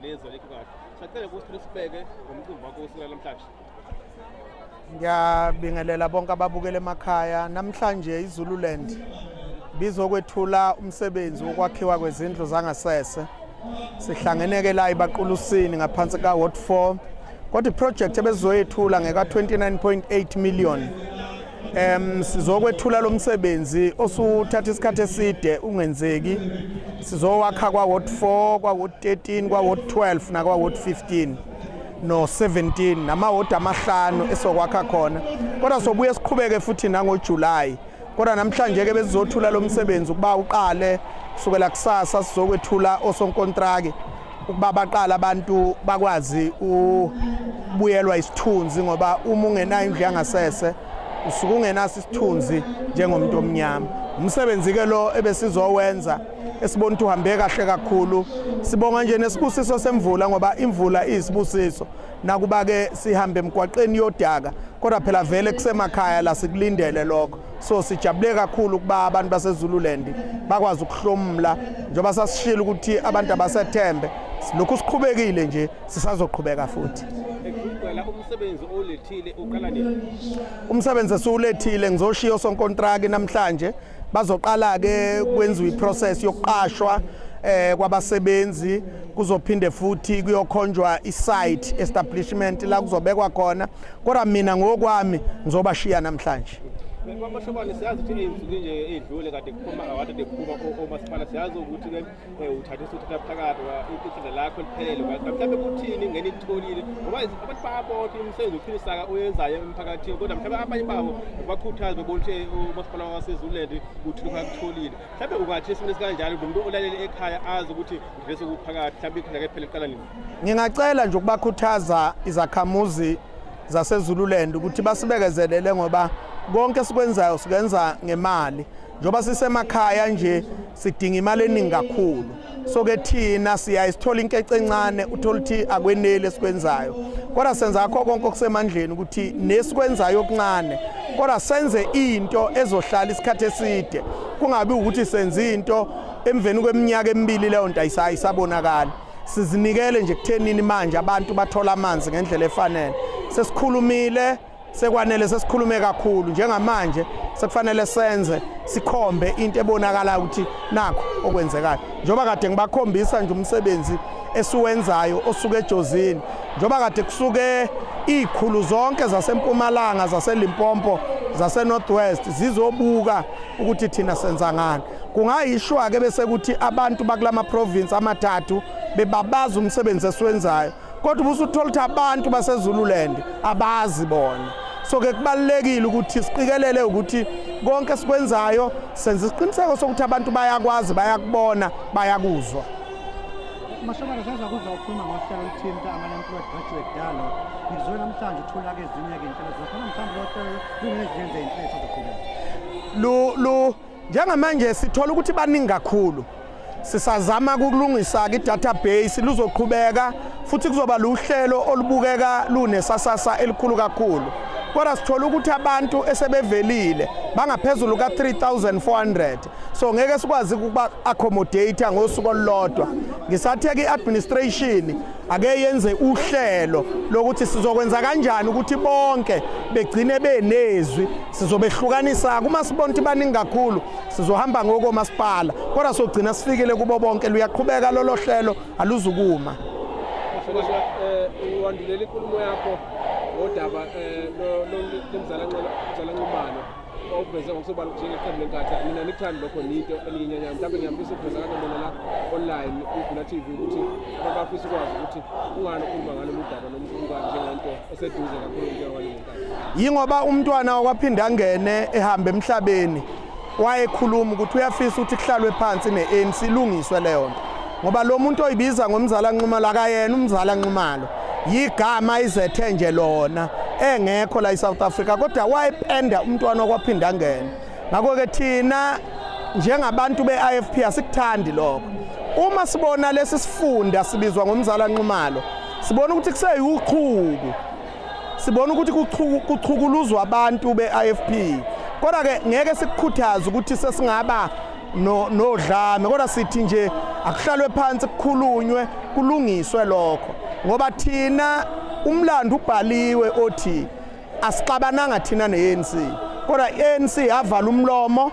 Nezwe lekho kahle. Sacela ukuthi nisibeke ngomcimbi wakho usuku namhlanje. Ngiyabingelela bonke ababukele emakhaya. Namhlanje iZululand bizokwethula umsebenzi wokwakhiwa kwezindlu zangasese. Sihlangene ke la ibaqulusini ngaphansi ka Ward 4 kodwa iproject ebezoyethula ngeka 29.8 million Em sizokwethula lomsebenzi osuthatha isikhathi eside ungenzeki. Sizowakha kwa ward 4, kwa ward 13, kwa ward 12 na kwa ward 15 no 17 nama ward amahlanu esokwakha khona. Kodwa sobuye siqhubeke futhi nango July. Kodwa namhlanje ke besizothula lomsebenzi ukuba uqale kusukela kusasa sizokwethula osonkontraki. ukuba baqala abantu bakwazi ukubuyelwa isithunzi ngoba uma ungenayo indlu yangasese usuke ungenaso isithunzi njengomuntu omnyama umsebenzi ke lo ebesizowenza esibona ukuthi uhambe kahle kakhulu sibonga nje nesibusiso semvula ngoba imvula iyisibusiso nakuba ke sihambe emgwaqeni yodaka kodwa phela vele kusemakhaya la sikulindele lokho so sijabule kakhulu ukuba abantu basezululand bakwazi ukuhlomula njengoba sasishilo ukuthi abantu abasethembe lokhu siqhubekile nje sisazoqhubeka futhi umsebenzi olethile uqala nini umsebenzi esiwulethile ngizoshiya osonkontraki namhlanje bazoqala ke kwenziwa iprocess yokuqashwa eh kwabasebenzi kuzophinde futhi kuyokhonjwa isite establishment la kuzobekwa khona kodwa mina ngokwami ngizobashiya namhlanje kwamashokwani siyazi ukuthi ey'nsuku nje ey'dlule kade kuphuma awade kuphuma omasipala siyazi ukuthi ke eh, uthathe usuthatha phakathi iqinga lakho liphelele mhlawumbe kuthini ngene itholile ngoba abantu bayabonke umsebenzi uphilisa-ka oyenzayo emphakathini kodwa mhlawumbe abanye babo bakhuthaze bebona ukuthi eh, umasipala wasezuland uthini kwakutholile mhlawumbe ungathi esimeni esikanjalo nomuntu olalele ekhaya azi ukuthi ngivese kuphakathi mhlawumbe iqhinga ke phela liqala nini Ngingacela nje ukubakhuthaza izakhamuzi zaseZululand ukuthi basibekezelele ngoba konke sikwenzayo sikwenza ngemali njengoba sisemakhaya nje sidinga imali eningi kakhulu so ke thina siyaye sithola inkece encane uthola ukuthi akweneli esikwenzayo kodwa senza akho konke okusemandleni ukuthi nesikwenzayo okuncane kodwa senze into ezohlala isikhathi eside kungabi ukuthi senza into emveni kweminyaka emibili leyo nto ayisabonakali sizinikele nje kuthenini manje abantu bathola amanzi ngendlela efanele sesikhulumile sekwanele sesikhulume kakhulu njengamanje sekufanele senze sikhombe into ebonakalayo ukuthi nakho okwenzekayo njengoba kade ngibakhombisa nje umsebenzi esiwenzayo osuke ejozini njengoba kade kusuke izikhulu zonke zasempumalanga zaselimpompo zasenorthwest zizobuka ukuthi thina senza ngani Kungayishwa-ke bese kuthi abantu bakulama province amathathu bebabaza umsebenzi esiwenzayo kodwa ubusuthola ukuthi abantu baseZululand abazi bona so ke kubalekile ukuthi siqikelele ukuthi konke sikwenzayo senza isiqiniseko sokuthi abantu bayakwazi bayakubona bayakuzwa Mashobana sasa kuza ukhuluma ngohlelo oluthinta amanani kubagraduate dalo ngizwe namhlanje uthola ke ezinye ke inhlelo zakhona mhlawumbe lohlelo lungezenze inhlelo zokuqhubeka lu lu Njengamanje sithola ukuthi baningi kakhulu. Sisazama ukulungisa i-database luzoqhubeka futhi kuzoba luhlelo olubukeka lunesasasa elikhulu kakhulu. Kodwa sithola ukuthi abantu esebevelile bangaphezulu ka-3400 so ngeke sikwazi ukuba accommodate ngosuku olulodwa ngisatheka i-administration ake yenze uhlelo lokuthi sizokwenza kanjani ukuthi bonke begcine benezwi sizobehlukanisa kumasibonti baningi kakhulu sizohamba ngokomasipala kodwa sogcina sifikile kubo bonke luyaqhubeka lolo hlelo aluzukuma uwandulela inkulumo yakho ngodaba lomzalanxumano okuveze ngokusobala ukuthi njengeqembu lenkatha mina nikuthandi lokho niyinto eliyinyanyana mhlawumbe ngiyafisa ukuveza kanto mina la online kugula tv ukuthi abafisa ukwazi ukuthi ungani ukhuluma ngalo mudaba nomkhulukani njengento eseduze kakhulu njengoba yingoba umntwana wakwaphinda angene ehambe emhlabeni wayekhuluma ukuthi uyafisa ukuthi kuhlalwe phansi ne-anc ilungiswe leyo nto ngoba lo muntu oyibiza ngomzala nxumalo akayena umzala nxumalo yigama izethe nje lona engekho la eSouth Africa kodwa wayependa umntwana okwaphinda ngene ngakho ke thina njengabantu beIFP asikuthandi lokho uma sibona lesi sifunda sibizwa ngomzala Nxumalo sibona ukuthi kuseyuchuku sibona ukuthi kuchukuluzwa abantu be-ifp kodwa-ke ngeke sikukhuthaze ukuthi sesingaba nodlame kodwa sithi nje akuhlalwe phansi kukhulunywe kulungiswe lokho ngoba thina umlando ubhaliwe othi asixabananga thina ne-ANC kodwa i-ANC yavala umlomo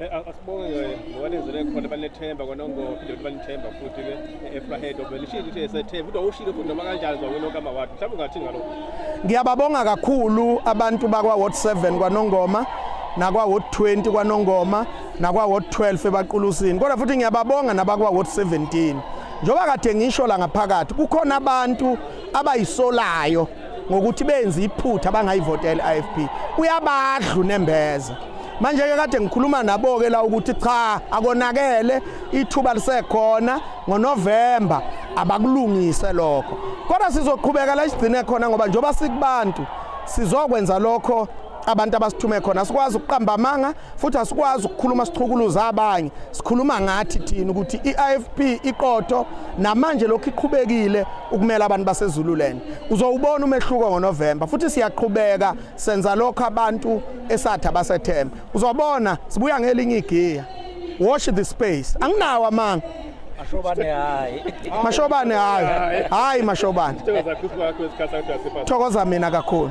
Eh, asibonge ngokwalenzele khona banethemba konongo phinde futhi banethemba futhi ke efrahead obelishilo ukuthi esethemba kodwa ushilo futhi noma kanjani zwakwini okama ward mhlawumbe ungathi ngalokho ngiyababonga kakhulu abantu bakwa ward 7 kwanongoma nakwa ward 20 kwanongoma nakwa ward 12 ebaqulusini kodwa futhi ngiyababonga nabakwa ward 17 njengoba kade ngisho la ngaphakathi kukhona abantu abayisolayo ngokuthi benze iphutha abangayivotela i-IFP uyabadlu nembeza manje ke kade ngikhuluma nabo ke la ukuthi cha akonakele ithuba lisekhona ngoNovember abakulungise lokho kodwa sizoqhubeka la isigcine khona ngoba njoba sikubantu sizokwenza lokho abantu abasithume khona asikwazi ukuqamba amanga futhi asikwazi ukukhuluma sichukuluza abanye sikhuluma ngathi thina ukuthi i-IFP iqotho namanje lokhu iqhubekile ukumela abantu basezululand uzowubona umehluko ngonovemba futhi siyaqhubeka senza lokho abantu esathi abasethemba uzobona sibuya ngelinye igiya watch the space anginawo amanga mashobane hayi mashobane hayi hayi mashobane thokoza mina kakhulu